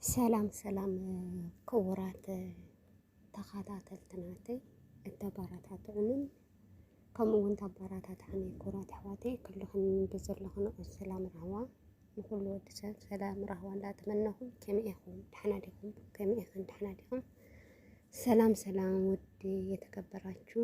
ሰላም ሰላም ክቡራት ተኸታተልቲ ናተይ እተበረታትዑንን ከምኡ እውን ተበረታትዓኒ ክቡራት ኣሕዋተይ ኩልኽን ብዘለኽን ሰላም ራህዋ ንኩሉ ወዲ ሰብ ሰላም ራህዋ እንዳተመነኹም ከመይ ኢኹም ደሕና ዲኹም ከመይ ኢኽን ደሕና ዲኹም ሰላም ሰላም ውድ የተከበራችሁ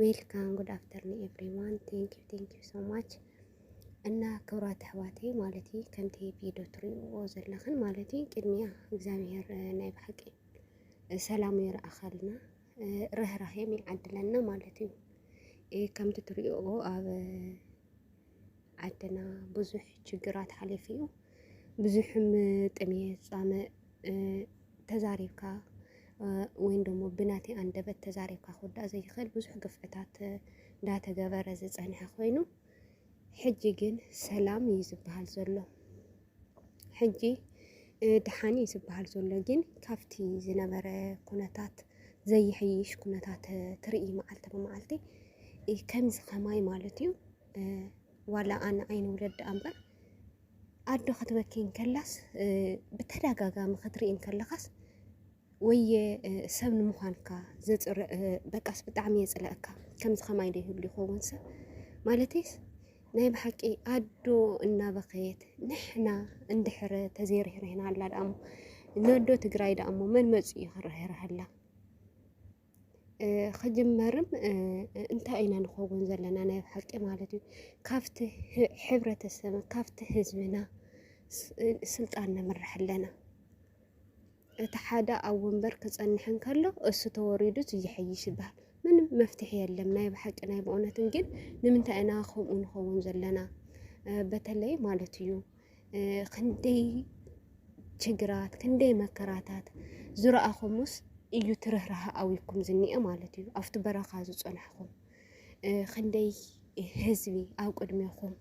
ዌልካም ጉድ ኣፍተርኒ ኤቭሪዋን ቴንክ ዩ ቴንክ ዩ ሶ ማች እና ክብራት ኣሕዋተይ ማለት እዩ ከምቲ ቪድዮ ትሪእዎ ዘለኽን ማለት እዩ ቅድሚያ እግዚኣብሄር ናይ ብሓቂ ሰላሙ ይርኣኸልና ርህራሄም ይዓድለና ማለት እዩ ከምቲ ትሪእዎ ኣብ ዓድና ብዙሕ ችግራት ሓሊፉ እዩ። ብዙሕም ጥሜት፣ ፃምእ ተዛሪብካ ወይም ደሞ ብናተይ ኣንደበት ተዛሪብካ ክውዳእ ዘይኽእል ብዙሕ ግፍዕታት እንዳተገበረ ዝፀንሐ ኮይኑ ሕጂ ግን ሰላም እዩ ዝበሃል ዘሎ። ሕጂ ደሓን እዩ ዝበሃል ዘሎ ግን ካብቲ ዝነበረ ኩነታት ዘይሕይሽ ኩነታት ትርኢ መዓልቲ ብመዓልቲ ከምዚ ከማይ ማለት እዩ ዋላ ኣነ ኣይንውለድ ደኣ እምበር ኣዶ ክትበኪ እንከላስ ብተደጋጋሚ ክትርኢ እንከለኻስ ወየ ሰብ ንምዃንካ ዘፅር በቃስ ብጣዕሚ የፅለኣካ ከምዚ ከማይ ዶ ይህሉ ይኸውን ሰብ ማለተይስ ናይ ብሓቂ ኣዶ እናበኸየት ንሕና እንድሕረ ተዘይርህርህና ኣላ ደኣሞ ነዶ ትግራይ ደኣሞ መን መፅኡ እዩ ክርህርሃላ ክጅመርም እንታይ ኢና ንኸውን ዘለና ናይ ብሓቂ ማለት እዩ ካብቲ ሕብረተሰብ ካብቲ ህዝብና ስልጣን ንምራሕ ኣለና እቲ ሓደ ኣብ ወንበር ክጸንሕ እንከሎ እሱ ተወሪዱ እቲ ይሐይሽ ይበሃል። ምንም መፍትሒ የለም። ናይ ብሓቂ ናይ ብእውነትን ግን ንምንታይ ኢና ከምኡ ንኸውን ዘለና በተለይ ማለት እዩ ክንደይ ችግራት ክንደይ መከራታት ዝረኣኹምስ እዩ ትርህራሃ ኣዊኩም ዝኒአ ማለት እዩ ኣብቲ በረኻ ዝፀናሕኹም ክንደይ ህዝቢ ኣብ ቅድሜኹም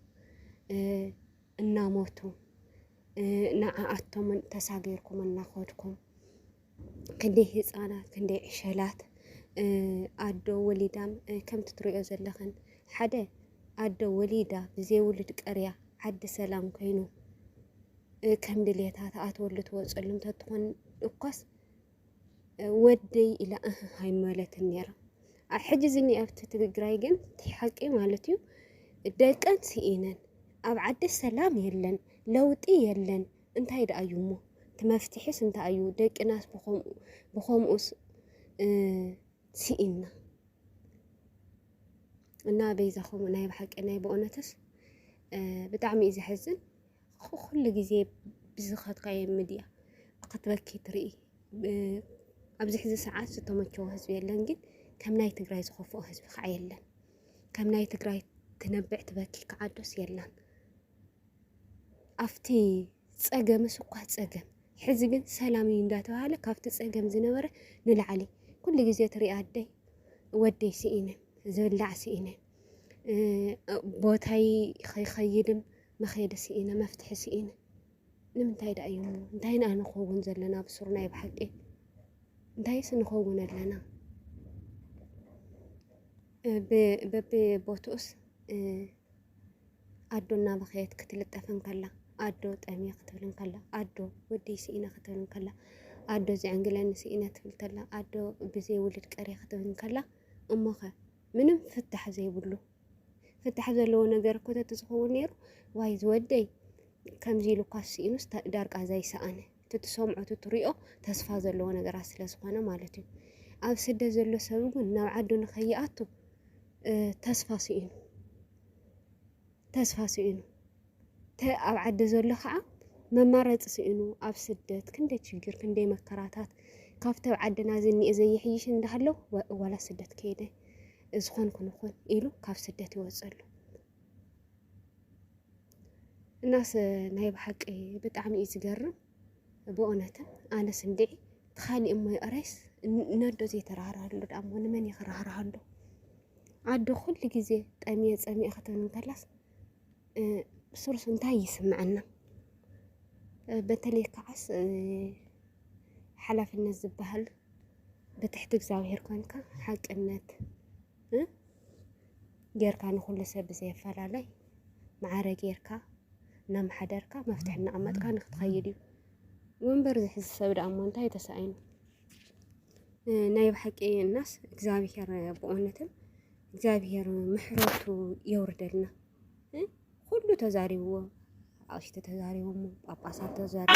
እናሞቱ ንዓኣቶምን ተሳጊርኩም እናኸድኩም ክንደይ ህፃናት ክንደይ ዕሸላት ኣዶ ወሊዳም ከምቲ ትሪኦ ዘለኽን ሓደ ኣዶ ወሊዳ ብዘይውሉድ ቀርያ ዓዲ ሰላም ኮይኑ ከም ድሌታ ተኣትወሉ ትወፀሉ እንተትኾን እኳስ ወደይ ኢላ እህ ኣይመለትን ነይራ ሕጂ እዚ ኣብቲ ትግራይ ግን ሓቂ ማለት እዩ ደቀን ስኢነን ኣብ ዓዲ ሰላም የለን ለውጢ የለን እንታይ ደኣ እዩ እሞ እቲ መፍትሒስ እንታይ እዩ ደቅናስ ብኸምኡ ብኸምኡስ ስኢንና እና በይዛኹም ናይ ብሓቂ ናይ ብእውነትስ ብጣዕሚ እዩ ዘሕዝን ኩሉ ግዜ ብዝኸድካዮ ሚድያ ክትበኪ ትርኢ። ኣብዚ ሕዚ ሰዓት ዝተመቸወ ህዝቢ የለን፣ ግን ከም ናይ ትግራይ ዝኸፍኦ ህዝቢ ከዓ የለን። ከም ናይ ትግራይ ትነብዕ ትበኪ ከዓ ዶስ የላን። ኣብቲ ፀገምስ እኳ ፀገም ሕዚ ግን ሰላም እዩ እንዳተባሃለ ካብቲ ፀገም ዝነበረ ንላዕሊ ኩሉ ግዜ ትርኢ ኣደይ ወደይ ስኢነ ዝብላዕ ስኢነ ቦታይ ኸይከይድን መኼዲ ስኢነ መፍትሒ ስኢነ ንምንታይ ድኣ እዩሞ እንታይ ኢና ንኸውን ዘለና ኣብ ሱር ናይ ብሓቂ እንታይስ ንኸውን ኣለና በቢቦትኡስ ኣዶ እናበኸየት ክትልጠፍ እንከላ ኣዶ ጠምየ ክትብል እንከላ ኣዶ ወደይ ስኢነ ክትብል እንከላ ኣዶ ዘዕንግለኒ ስኢነ ትብል ከላ ኣዶ ብዘይ ውልድ ቀርየ ክትብል እንከላ እሞኸ ምንም ፍታሕ ዘይብሉ ፍታሕ ዘለዎ ነገር እኮ ተትዝኸውን ነይሩ ዋይ ዝወደይ ከምዚ ኢሉ እኳ ስኢኑስ ዳርቃ ዘይሰኣነ ትትሰምዖ ትትሪኦ ተስፋ ዘለዎ ነገራት ስለ ዝኾነ ማለት እዩ ኣብ ስደት ዘሎ ሰብ እውን ናብ ዓዱ ንኸይኣቱ ተስፋ ስኢኑ ተስፋ ስኢኑ ተ ኣብ ዓዲ ዘሎ ከዓ መማረፂ ስኢኑ ኣብ ስደት ክንደይ ችግር ክንደይ መከራታት ካብቲ ኣብ ዓድና ዝኒኤ ዘይሕይሽ እንዳሃለው ዋላ ስደት ከይደ ዝኾን ክንኹን ኢሉ ካብ ስደት ይወፅሉ እናስ ናይ ብሓቂ ብጣዕሚ እዩ ዝገርም። ብኡነትን ኣነስ እንድዒ ትኻሊእ እሞ ይቕረይስ ነዶ ዘይተራህራሃሉ ደኣ እሞ ንመን እየ ክራህርሃሉ ኣዶ ኩሉ ግዜ ጠሚየ ፀሚየ ክትብል እንከላስ ብሱሩስ እንታይ ይስምዐና በተለይ ከዓስ ሓላፍነት ዝበሃል ብትሕቲ እግዚኣብሄር ኮንካ ሓቅነት ጌርካ ንኹሉ ሰብ ብዘየፈላለይ መዓረ ጌርካ እናመሓደርካ መፍትሒ እናቐመጥካ ንክትኸይድ እዩ ወንበር ዝሕዝ ሰብ ደኣ እሞ እንታይ ተሳኢኑ ናይ ብሓቂ እናስ እግዚኣብሄር ብእውነትን እግዚኣብሄር ምሕረቱ የውርደልና ኩሉ ተዛሪብዎ ኣቕሽቲ ተዛሪቦሞ ጳጳሳት ተዛሪቦ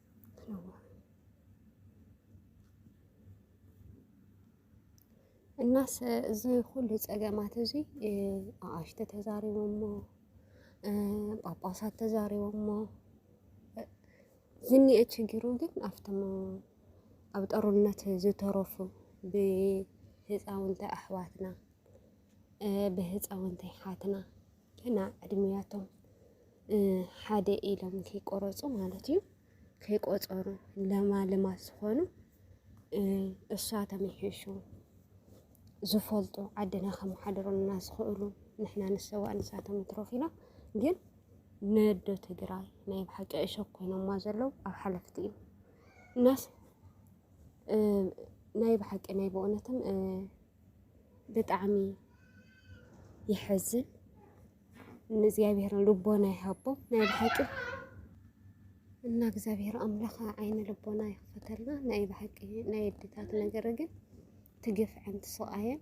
እናስ እዚ ኩሉ ፀገማት እዚ ኣኣሽተ ተዛሪቦሞ ጳጳሳት ተዛሪቦሞ ዝኒአ ችግሩ ግን ኣብቶም ኣብ ጦርነት ዝተረፉ ብህፃውንቲ ኣሕዋትና ብህፃውንቲ ኣሓትና ገና ዕድሜያቶም ሓደ ኢሎም ከይቆረፁ ማለት እዩ ከይቆፀሩ ለማልማት ዝኾኑ እሷ ተመሒሹ ዝፈልጡ ዓድና ከመሓድሩልና ዝኽእሉ ንሕና ንሰዋእ ንሳቶም ይትረፉ ኢና ግን ነዶ ትግራይ ናይ ብሓቂ እሾክ ኮይኖማ ዘለዉ ኣብ ሓለፍቲ እዩ እናስ ናይ ብሓቂ ናይ ብእውነትም ብጣዕሚ የሐዝን። ንእግዚኣብሔር ልቦና ይሃቦ ናይ ብሓቂ እና እግዚኣብሔር ኣምላኽ ዓይነ ልቦና ይኽፈተልና። ናይ ብሓቂ ናይ ኣዴታት ነገር ግን ትግፍዐን ትስቃየን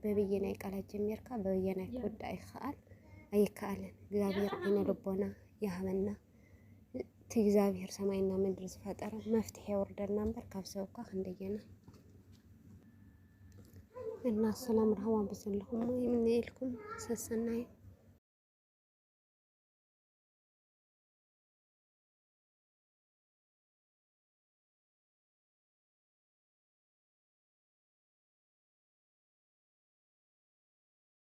በብየናይ ቃላት ጀሚርካ በብየናይ ክውዳእ ይከኣል ኣይከኣልን። እግዚኣብሔር ዓይነ ልቦና ይሃበና። እቲ እግዚኣብሔር ሰማይና ምድሪ ዝፈጠረ መፍትሒ የውርደልና እምበር ካብ ሰብ እኳ ክንደየና እና ሰላም ረሃዋ ብዘለኹም ይምነየልኩም ሰሰናዩ